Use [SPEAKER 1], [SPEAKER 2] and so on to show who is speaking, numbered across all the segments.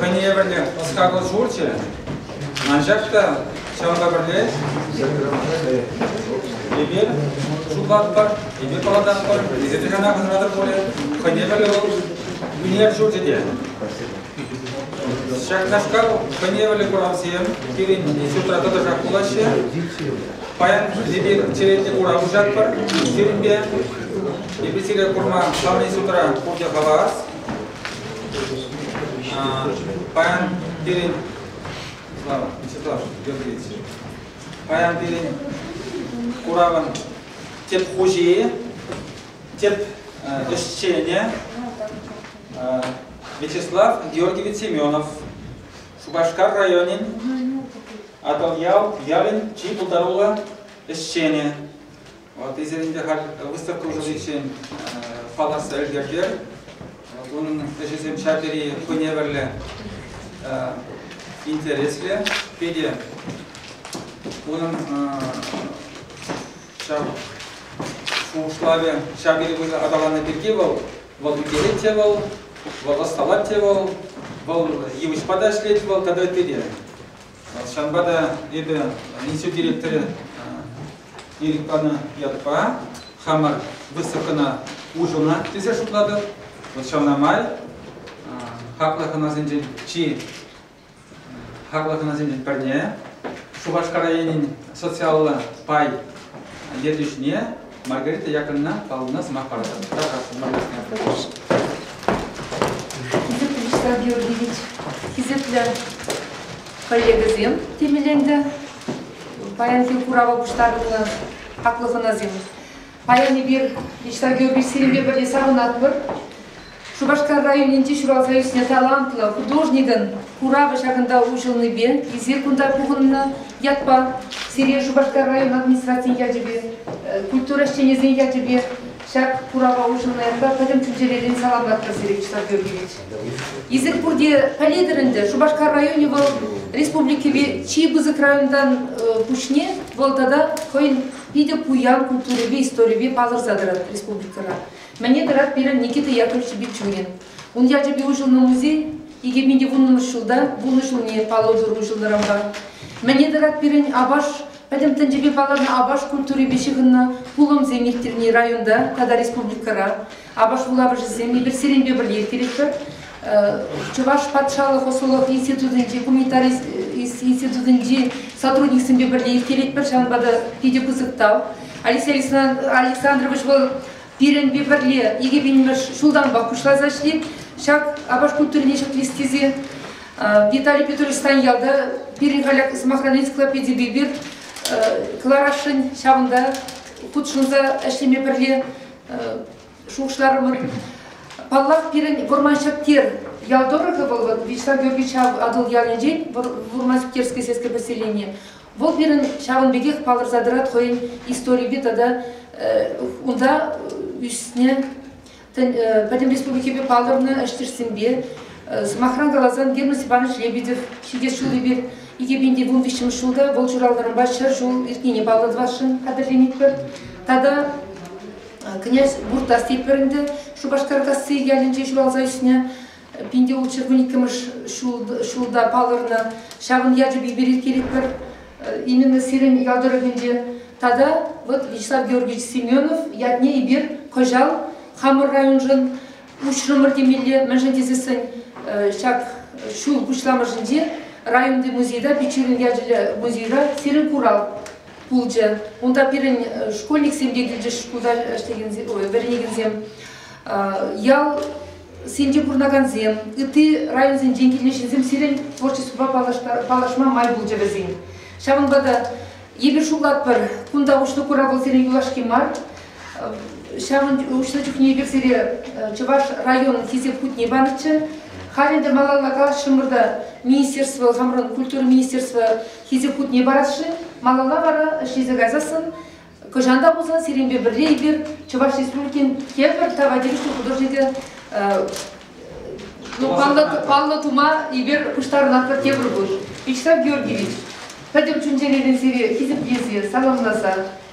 [SPEAKER 1] Хӑйне евӗрлӗ ӑс-хакӑл шурчӗ. Анчах та ҫавӑнпа пӗрле эпир шутлатпӑр, эпир паллататпӑр, эсир текана хӑнӑратӑр пулӗ. Хӑйне евӗрлӗ вӑл вилнӗ шурчӗ те. Ҫакнашкал хӑйне евӗрлӗ куравсем пирӗн институтра тӑтӑшах пулаҫҫӗ. Паян эпир черетлӗ курав уҫатпӑр сирӗнпе. Эпир сире курма ҫавӑн институтра пурте хавас. Паян пирӗн Слава, Святослав Георгиевич, паян пирӗн куравӑн тӗп хуҫи, тӗп ӗҫченӗ Вячеслав Георгиевич Семенов, Шупашкар районӗн Атӑлъял ялӗн чи пултаруллӑ ӗҫченӗ. Ваттисем ӗнтӗ халь выставка ӑсатиччен палӑртса ӗлкӗртер. Унӑн ӗҫӗсем ҫав тери хӑйневӗрлӗ, интереслӗ. Питӗ унӑн ҫав шухӑшлавӗ ҫав тери пысӑк аталаннӑ пирки вӑл вӑл ӳкерет те вӑл, вӑл ӑсталать те вӑл, вӑл йывӑҫпа та ӗҫлет вӑл тата ытти те. Ҫавӑнпа та эпӗ институт директорӗ ирӗк панӑ ятпа хамӑр выставкӑна уҫӑлнӑ тесе шутлатӑп. Вӑл ҫавна май хаклӑ хӑнасенчен чи хаклӑ хӑнасенчен пӗрне Шупашкар районӗн социаллӑ пай ертӳҫине Маргарита Яковлевна палубӑна сӑмах паратӑп. Тархас, Маргарита Яковлевна. Хисеплӗ Вячеслав
[SPEAKER 2] Георгиевич, хисеплӗ коллегӑсем, темеленлӗ паянхи курава пуҫтарӑннӑ хаклӑ хӑнасем. Паян эпир Вячеслав Георгиевич сирӗнпе пӗрле савӑнатпӑр. Шупашкар районӗнче ҫуралса ӳснӗ талантлӑ художникӑн куравӗ ҫакӑнта уҫӑлнипе эсир кунта пухӑннӑ ятпа сире Шупашкар район администрацийӗн ячӗпе, культура ӗҫченӗсен ячӗпе ҫак курава уҫӑлнӑ ятпа пӗтӗм чун-чӗререн салам патпӑр сире чыслав кӳркелет. Эсир пурте пӗлетӗр ӗнтӗ, Шупашкар районӗ вӑл республикӑри чи пысӑк районтан пуҫне вӑл тата хӑйӗн питӗ пуян культурипе историпе палӑрса тӑрать республикӑра. Мӗне тӑрать пирӗн Никита Яковлевич Бичурин? Ун ячӗпе уҫӑлнӑ музей икӗ мин вуннӑмӗш ҫулта пулнӑ ҫулне паллӑ тӑр уҫӑлтӑрӑмпа. Мӗне тӑрать пирӗн Апаш, пӗтӗм тӗнчепе палӑрнӑ Апаш культурипе ҫыхӑннӑ пулӑмсем ирттерни районта тата республикӑра. Апаш вулавӑшӗсем эпир сирӗнпе пӗрле ирттеретпӗр. Чӑваш патшалӑх ӑслӑлӑх институтӗнчи гуманитарист институтӗнчи сотрудниксемпе пӗрле ирттеретпӗр. Ҫавӑнпа та питӗ пысӑк тав. Алексей Александрович вӑл пирӗнпе пӗрле икӗ пинмӗш ҫултанпах пуҫласа ӗҫлет. Ҫак апат культурине ҫӗклес тесе Виталий Петрович Станьялта пирӗн халь сӑмахран энциклопедипе пир кӑларасшӑн. Ҫавӑнта хутшӑнса ӗҫлеме пӗрле шухӑшларӑмӑр. Паллах, пирӗн Вӑрман Ҫӗптер ял тӑрӑхӗ вӑл, вот Вячеслав Георгиевич Атӑл ялӗнчен Вӑрман Ҫӗптерское сельское поселение. Вӑл пирӗн ҫавӑн пекех палӑрса тӑрать хӑйӗн историпе тата унта ӳснӗ пӗтӗм республикипе палӑрнӑ ӗҫтешсемпе, сӑмахран каласан, Герман Степанович Лебедев ҫитес ҫул эпир икӗ пин вун виҫҫӗмӗш ҫулта вӑл ҫуралнӑранпа ҫӗр ҫул иртнине паллӑ тӑвасшӑн хатӗрленетпӗр. Тата Князь Буртасти пӗрӗнтен Шупашкаркасси ялӗнче ҫуралса ӳснӗ. Пинте вӑл чиркӳн иккӗмӗш ҫулта палӑрнӑ. Ҫавӑн ячӗ Биберит Кирикпӗр именно сирӗн ял тӑрӑхӗнче. Тата вот Вячеслав Георгиевич Семенов ятне эпир кӑҫал хамӑр районшӑн уҫрӑмӑр темелле, мӗншӗн тесессӗн ҫак ҫул пуҫламӑшӗнче районти музейта, Пичурин ячӗллӗ музейра сирӗн курав пулчӗ. Унта пирӗн школьниксем те килчӗҫ шкулта ӗҫлекенсем, вӗренекенсем, ял сенче пурӑнакансем, ытти районсенчен килнӗ ҫынсем сирӗн творчествӑпа паллашма май пулчӗ вӗсен. Ҫавӑнпа та эпир шутлатпӑр, кунта уҫлӑ курав сирӗн юлашки мар. Ҫавӑн уҫлӑ чухне эпир сире Чӑваш районӗн Хисеп хутне панӑччӗ. Халь ӗнтӗ малалла калаҫрӑмӑр та министерство, хамӑрӑн культура министерство Хисеп хутне парасшӑн, малалла вара ӗҫ илсе кайсассӑн Кӑҫан та пулсан сирӗнпе пӗрле эпир Чӑваш Республикин тепӗр тава тивӗҫлӗ художникӗн ну, паллӑ, паллӑ тума эпир пуҫтарӑнатпӑр тепӗр кун. Вячеслав Георгиевич, пӗтӗм чун-чӗререн сире хисеплесе, саламласа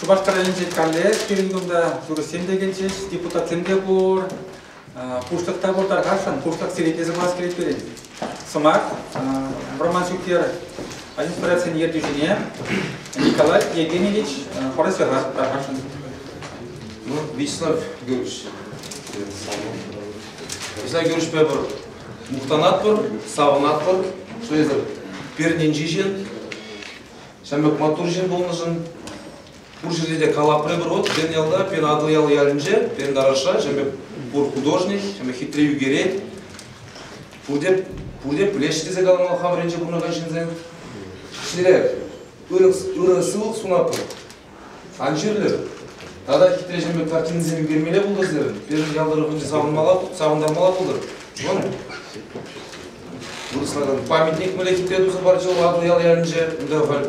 [SPEAKER 1] Шупашкар районӗнче каллех пирӗн кунта юрӑҫсем те килчӗҫ, депутатсем те пур. Пуҫлӑх та пур тархасшӑн, пуҫлӑх сире те сӑмах килет пирӗн. Сӑмах Роман Шӳктер администрацин ертӳҫине Николай Евгеньевич Поросера тархасшӑн. Ну, Вячеслав
[SPEAKER 3] Георгиевич, Вячеслав Георгиевичпе пыр мухтанатпӑр, савӑнатпӑр, что это пирӗннен чечен Ҫамрӑк маттур ҫын пулнӑшӑн пур ҫӗрте те калапри пур. Вот пирӗн ялта, пирӗн Атӑлъял ялӗнче, пирӗн Тараша ҫемӗ пур художник, ҫемӗ хитре ӳкерет. Пурте, пурте пӗлеҫҫӗ тесе каламалла хамӑр енче пурӑнакан ҫынсем. Сире ырӑ, ырӑ сывлӑх сунатпӑр. Ан чирлӗр. Тата хитре ҫемпе картинӑсем ӳкермелле пултӑр-сӑр. Пирӗн ял тӑрӑхӗнче савӑнтармалла пултӑр. Вӑл вырӑсларан памятник мӗнле хитре туса парчӗ вӑл аслӑ ял ялӗнче. Унта халь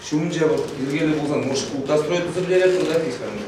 [SPEAKER 3] ҫумӗнче вӑл йӗркеллӗ пулсан, может, ултра стройка сӗрлерӗ, пырса писармӑр.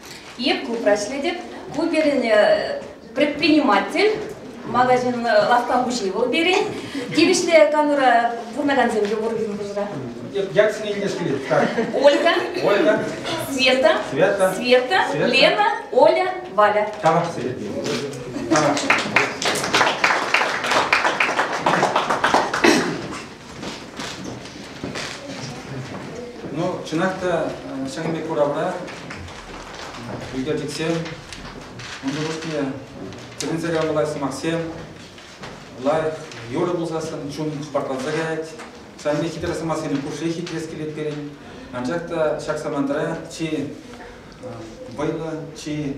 [SPEAKER 2] Е клубра ӗҫлетӗп. Ку пирӗн предприниматель, магазин лавкка хуҫи вӑл пирӗн. Тивӗҫлӗ канура пурӑнакансем те пур пирӗн хушӑра. Як сине илтес
[SPEAKER 1] килет? Так. Ольга. Ольга.
[SPEAKER 2] Света. Света. Света. Света. Лена. Оля. Валя. Тавах сире.
[SPEAKER 1] Тавах. Ну, чӑнах та ҫакӑн пек куравра ӳкерчӗксем, унсӑр пуҫне тӗлӗнсе каламалла сӑмахсем лайӑх юрӑ пулсассӑн чун хӑпартланса каять. Ҫавӑн пек хитре сӑмахсене пушшех хитрес килет пирӗн. Анчах та ҫак самантра чи вӑйлӑ, чи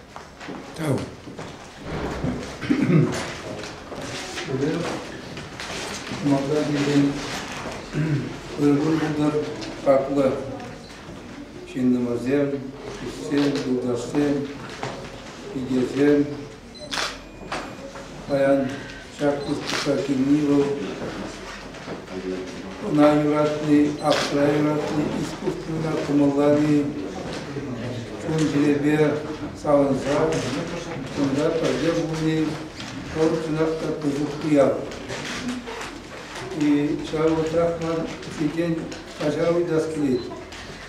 [SPEAKER 4] Малтан килген ыргу юнар хаклӑ ҫыннӑмӑрсем, ӗҫчен, юлташсем, пикесем, Паян ҫак выставка килни вӑл ӑна юратни, аптра юратни, искусствӑна кӑмӑллани, чун-чӗрепе савӑнса кунта пӗрле пулни вӑл чӑнах та пысӑк уяв. И ҫав вӑхӑтрах ман ҫинчен каҫа уйтас килет.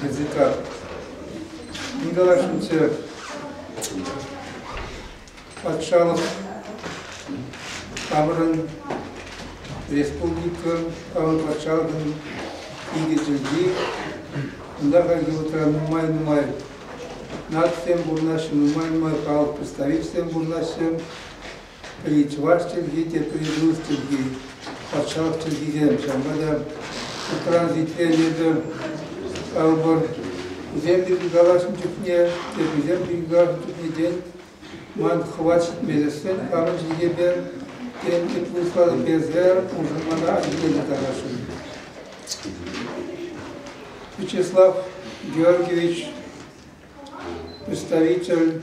[SPEAKER 4] ДЦК. Николай Шунцев патшалӑх таврӑн республика авыл патшалӑхӑн икӗ чӗлхи. Унта хальхи вӑхӑтра нумай-нумай нацисем пурӑнаҫҫӗ, нумай-нумай халӑх представителӗсем пурӑнаҫҫӗ. Литвак чӗлхи те призыв чӗлхи, патшалӑх чӗлхисем. Ҫавӑнпа та Утран Литвенӗсем калӑпӑр, вӗсем те пил калаҫнӑ чухне те вӗсем пил калаҫнӑ чухне тен ман хӑват ҫитмесӗрен хамӑн чӗлхепе тен ытларах персе уншӑн мана ҫитерме тӑрасшӑн. Вячеслав Георгиевич, представитель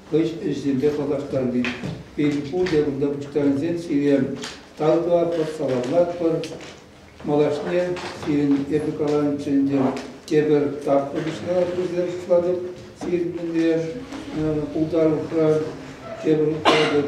[SPEAKER 4] хӑш ӗҫсемпе паллаштарни. Пин-пул якунта пуҫтарӑнсен сире тав тӑватпӑр, саламлатпӑр. Малашне сирӗн эпӗ каланӑччӗ ӗнтӗ, тепӗр тапхӑр пуҫра пырса шутлатӑп сирӗн умне пултарулӑхра, тепӗр хутпалатӑп.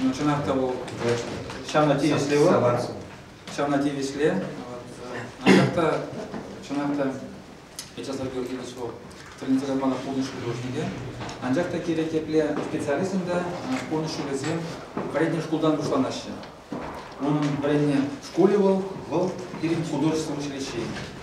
[SPEAKER 1] Ну, чӑнах та вӑл ҫавна тивӗҫлӗ вӑл. Ҫавна тивӗҫле. Анчах та, чӑнах та, Вячеслав Георгиевич вӑл тренерсем мана пурнӑҫ ҫулӗ хушнипе. Анчах та кирек епле специалистӑн та пурнӑҫ ҫулӗсем вӗрентнӗ шкултан пуҫланаҫҫӗ. Унӑн вӗреннӗ шкулӗ вӑл, вӑл пирӗн художествӑн училищи.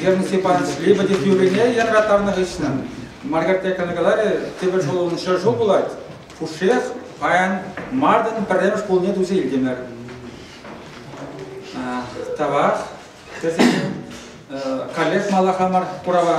[SPEAKER 1] Герман Степанович Лебедев юррине янратарнӑ хыҫҫӑн Маргарет каларӗ тепӗр ҫулӑн ҫӗр пулать, пушшех паян мартӑн пӗрремӗш пулне туса илтӗмӗр. Тавах. Каллех малаха мар курава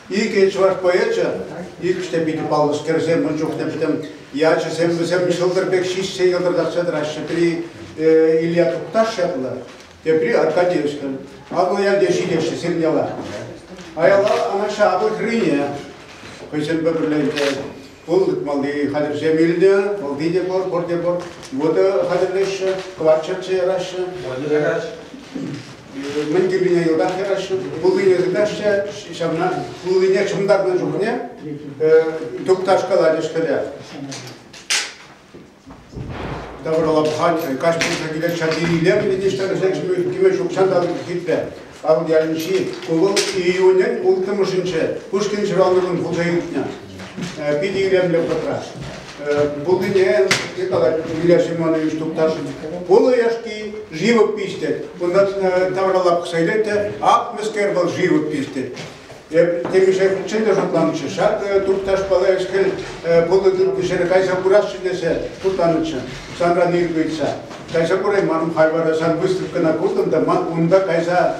[SPEAKER 5] Икӗ чӑваш поэчӗ, иккӗш те питӗ паллӑскерсем, ун чухне пӗтӗм ячӗсем вӗсем ҫӑлтӑр пек ҫиҫсе йӑлтӑртатса тӑраҫҫӗ. Пӗри Илья Тукташ ятлӑ, тепри Аркадьевскин. Аслӑ ялте ҫитеҫҫӗ сирӗн яла. Аяла Анаҫҫа апӑл хӗррине хӑйсем пӗрле Пыл тытмалли хатӗрсем илнӗ, пылти те пур, пурте пур. Вода хатӗрлеҫҫӗ, кӑвак чӗрче яраҫҫӗ. Ярать. Мӗн кӳргине йӑлтах яраҫҫӗ, пуллине тытаҫҫӗ, ҫавна пуллине чӑмтарнӑ чухне тупташ калатӗҫ кӗле. Таврала пӑхать, каҫ пулса килет, ҫак илемлӗ те ҫӗршекшмӗш киме ҫукҫан та хитре. Авӑл ялӗнчи Кулӑл июнӗн улттӑмӗшӗнче Пушкин ҫуралнӑкун пулса иртнӗ. Питӗ илемлӗ вӑхӑтра. Пулнине калать Илья Семенович Тукташин. Пулӑ яшки живопись тет. Унта тавралла пӑхса илет те, ак мӗскер вӑл живопись тет. Эп текӗшехинче те шутланӑччӗ. Ҫак турташпала ӗҫ-хӗл пулӑ тытнӑ ҫӗре кайса курасчӗ тесе шутланӑччӗ. Санран ирӗк ыйтса. Кайса курайман, хай вара сан выставкӑна куртӑм та ман унта кайса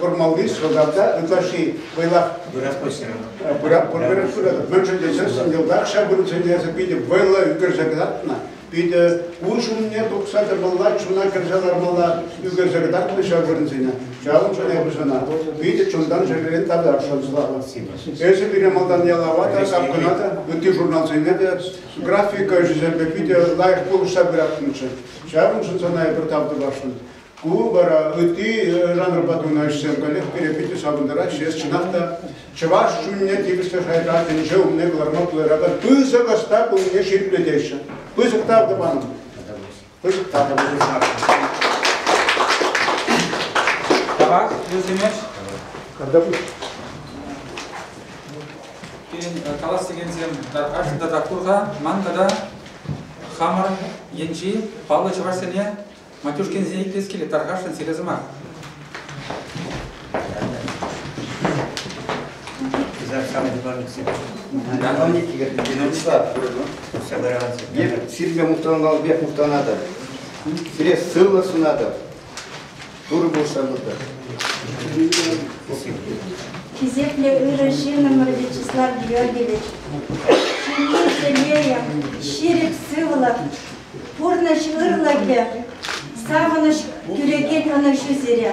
[SPEAKER 5] курмалли сӑлтавта ытлашши вӑйлах пырат пырат пыратӑп. Мӗншӗн тесен сӗн йӑлтах ҫав вырӑнсене эсӗ питӗ вӑйлӑ ӳкерсе кӑтартнӑ. Питӗ ун ҫумне тухса тӑмалла, чуна кӗрсе лармалла ӳкерсе кӑтартмӗ ҫав вырӑнсене. Ҫавӑн чухне пушана питӗ чунтан чӗререн татасшӑн слава. Эсӗ пире малтан ялава та, капкӑна та, ытти журналсене те графика ӗҫӗсемпе питӗ лайӑх пулӑшса пыратӑнччӗ. Ҫавӑншӑн сана эпир тав тӑвасшӑн. Ку вара ытти жанрпа тунӑ ӗҫсем каллех пире питӗ савӑнтараҫҫӗ. Эс чӑнах та чӑваш чунне тивӗслӗ шайра тӗнче умне кӑларма пултаракан пысӑк ӑста пулнине ҫирӗплетеҫҫӗ. Пысӑк тав тӑван. Пысӑк тав тӑвӑр. Тарас, вӗсемеш. Когда будешь? Пирӗн калас
[SPEAKER 1] текенсем Арҫын тата Курха, ман тата хамӑр енчи паллӑ чӑвашсене Матюшкинсен итлес килет, тархасшӑн сире сӑмах.
[SPEAKER 6] Сирпе мухтанкалпех мухтанатӑп. Сире сывлӑх сунатӑп. Турӑ пулӑшатӑп.
[SPEAKER 7] Хисеплӗ ырӑ ҫынӑмӑр Вячеслав Георгиевич, ҫынни телейӗ, ҫирӗп сывлӑх, Пурнӑҫ ырлӑхӗ, савӑнӑҫ кӳрекен ӑнӑҫу сире.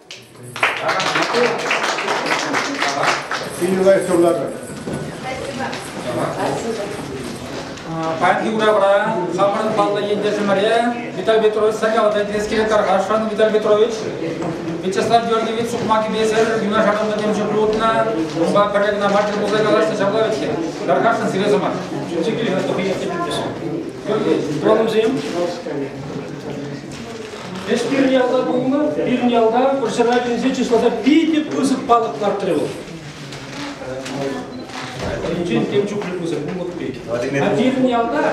[SPEAKER 5] Кирилай Сурлатов.
[SPEAKER 1] Паянхи куравра хамӑрӑн паллӑ ентешӗмӗре Виталий Петрович сакалата килес килет тархасшӑн. Виталий Петрович, Вячеслав Георгиевич сукмакӗпесӗр юнашараллӑ темшӗн пулӑтнӑ. Унпа пӗрре кӑна мар тӗл пулса калаҫнӑ ҫапла вӗт-ҫке. Тархасшӑн сире сӑмах. Чикиле, тухӑҫ. Вӑлӑмсем.
[SPEAKER 8] Ӗҫ пирӗн ялта пулнӑ, пирӗн ялта вӑрҫӑра килсе чысласа питӗ пысӑк палӑк лартрӗ вӑл. Валентин тем чухлӗ пысӑк пулӑк пек. А пирӗн ялта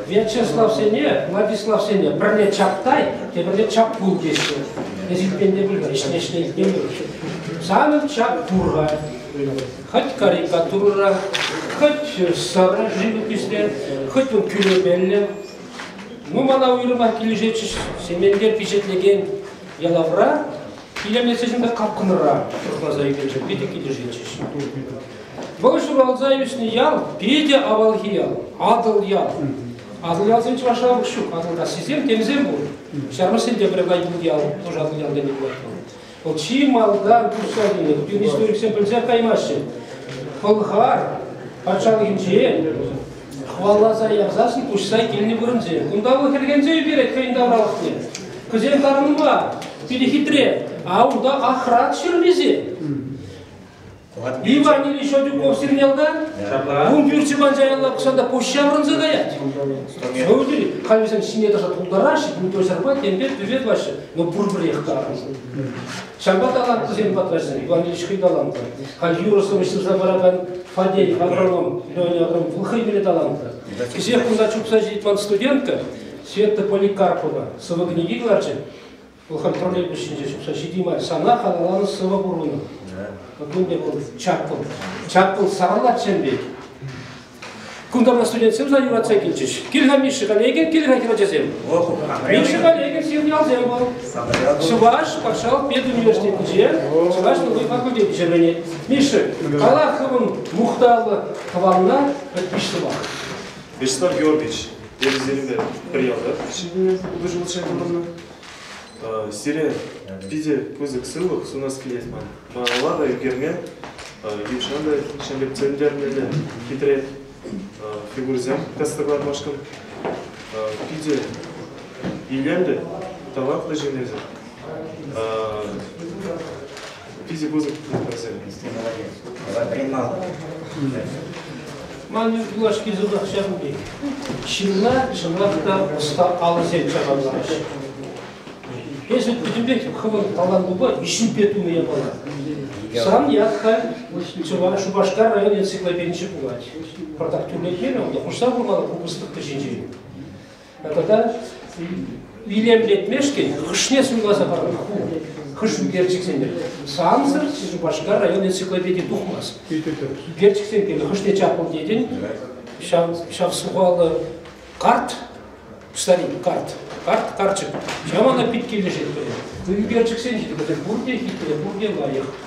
[SPEAKER 8] Вячеславсене, Владиславсене пӗрле чаптай, тепӗрле чаппул теҫҫӗ. Эс илтмен те пуль, ӗҫне ӗҫне илтмен пуль. Санӑн чап пур-ха. Хӑть карикатура, хӑть сарӑ живопиҫле, хӑть вӑл тӳрепеллӗ, Ну, мана уйрӑмах килӗшетчӗҫ Сементе пичетлекен ялавра илемлетсечен пек капкӑнра сыхласа ӳкерчӗ. Питӗ килӗшетчӗҫ. Вӑл ҫуралса ӳснӗ ял питӗ авалхи ял, Атӑл ял. Атӑл ялсем чӑвашла ҫук, Атӑлтассисем, тенӗсем пур. Ҫармӑссен те пӗр ял, тоже Атӑл ялта не пулать. Вӑл чи малтан тухса килнӗ. Путин историксем пӗлсех каймаҫҫӗ. Пӑлхар патшалӑхӗнчен хӑваласа ярсассӑн куҫса килнӗ вырӑнсем. Кунта вӑл хӗрхенсе ӳкерет хӑйӗн тавралӑхне. Кӑсем тарӑнма питӗ хитре. А унта ахрат ҫырӑнисем. Иван Ильич Шадюков сирнялка, ун пӳрчи манчаялла кӑшанта пуҫ ҫаврӑнса каять. Ну, халь вӗсем ҫине тӑса тултараҫҫӗ, Митросерпа темпе пӗве тӑваҫҫӗ, но пурпӗрех тарӑншӑн. Ҫавӑнпа талантлисем патраҫҫӗ, Иван Ильич хӑй талантлӑ. Халь юрӑ-сӑвӑҫ сырса паракан Фадей агроном, Леня агроном вӑл хӑй мӗне талантлӑ. Кӗҫех кунта чупса ҫитет ман студентка, Света Поликарпова, сӑвӑ-кӗнеке кӑларчӗ. Вӑхӑт промежуточӗнче ҫукса ҫити мар. Сана халалланӑ сӑвӑ пурӑннӑ. Кун пек вӑл чаккӑл. Чаккӑл сарӑлатчен пек. Кунта у нас студентсем сана юратса килчӗҫ. Кил-ха Миша Галегин, кил-ха хӗрачасем. Миша Галегин сигнялсем вӑл. Чӑваш патшалӑх педуниверситетӗнче чӑваш тулли факультет пӗҫермене. Миша, кала хӑвӑн мухтавлӑ тӑванна пӗр пиш сӑмах. Вячеслав
[SPEAKER 9] Георгиевич, Терӗсене пӗрялтах ҫитӗннӗ хутӑшӑлча тӑхӑннӑ. Сире питӗ пысӑк сывлӑх сунас килет ман. Малалла та ӳкерме нихӑҫан та ҫӗнтертерленмелле хитре фигурӑсем кӑтӑкланмашкӑн питӗ илемлӗ, талантлӑ ҫыннисем. Питӗ пысӑк
[SPEAKER 8] пултӑрсем стенарие. Ватримал. Ман юлашки сӑмахҫа пулин. Ҫынна чӑнах та ӑста алӑсем чакарламаҫҫӗ. Эсӗ пӗтӗмпех хӑвӑн талантупа виҫӳпе тунӑ япала. Сан ят-ха Чӑваш Шупашкар район энциклопединче пулать. Пӑртак тӳрлетмерӗ унта, хушса кур-ха купӑстӑк кӗҫӗнчен. тата илемлетмешкӗн хӑшне суйласа парӑн ку хӑш ӳкерчӗксене сансӑр Шупашкар район энциклопеди тухмасть ӳкерчӗксем пирки хӑшне чаппӑн тетӗн ҫав ҫав сухаллӑ карт старик карт карт карчӑк ҫав ӑна пит килӗшет пӗле ӳкерчӗксен ҫитӗ пурте хитре пурте лайӑх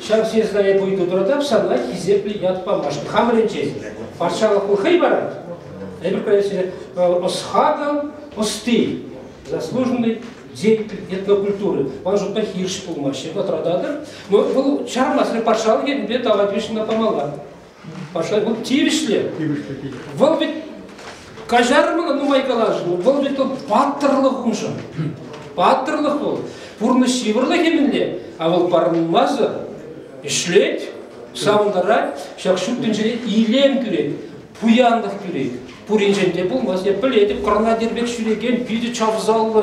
[SPEAKER 8] Ҫав съездная будет утратап санла хисеплӗ ят памашкӑ. Хамӑрӗн честь. Патшалӑху хӑй парать. Эпир конечно ӑсхатӑл ӑсти заслуженный деятель этнокультуры. Он же похирш пулмаҫҫӗ, отрадатор. Но вӑл чармасӑр патшалӑх енпе тава тивӗҫлӗ памалла. Паша вӑл тивӗҫлӗ. Тивӗҫлӗ пит. Вӑл вӗт каҫармӑн нумай калаҫу, вӑл вӗт вӑл паттӑрлӑх уншӑн. Паттӑрлӑх вӑл, пурнӑҫ йывӑрлӑхӗ мӗнле, а вӑл парӑнмасӑр ӗҫлет, савӑнтарать, ҫак ҫут тӗнчере илем кӳрет, пуянлӑх кӳрет. Пуринчен те пулмас, я пӗлетӗп, кӑрна пек ҫӳрекен питӗ чавсаллӑ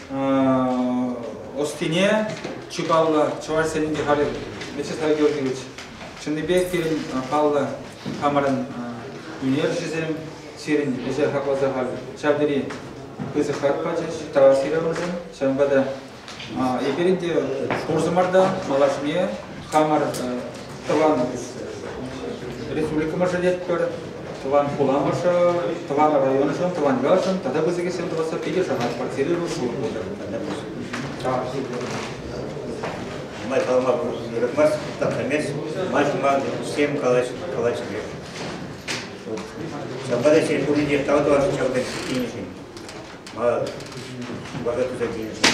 [SPEAKER 1] ӑстине чи паллӑ чӑваш сенӗнче халӗ Вячеслав Георгиевич чӑннипех пирӗн паллӑ хамӑрӑн ӳнерҫӗсем сирӗн ӗҫе хакласа халь ҫав тери пысӑк хак пачӗҫ Таус Ивановнӑсем ҫавӑнпа та эпир ӗнтӗ пурсӑмӑр та малашне хамӑр тӑван республикӑмӑршӑ тетпӗр, тӑван хуламӑршӑ, тӑван районшӑн, тӑван ялшӑн тата пысӑкӗсем тӑвасса питӗ шанать, квартирӑшӑн шур Май калама
[SPEAKER 10] пулӑшмасть, тапрамест, май тума всем калаҫмест. Ҫапла та ҫеҫ пуринче тав тӑвасшӑн ҫав тенӗшӗн. Мана вара туса тенӗшӗн.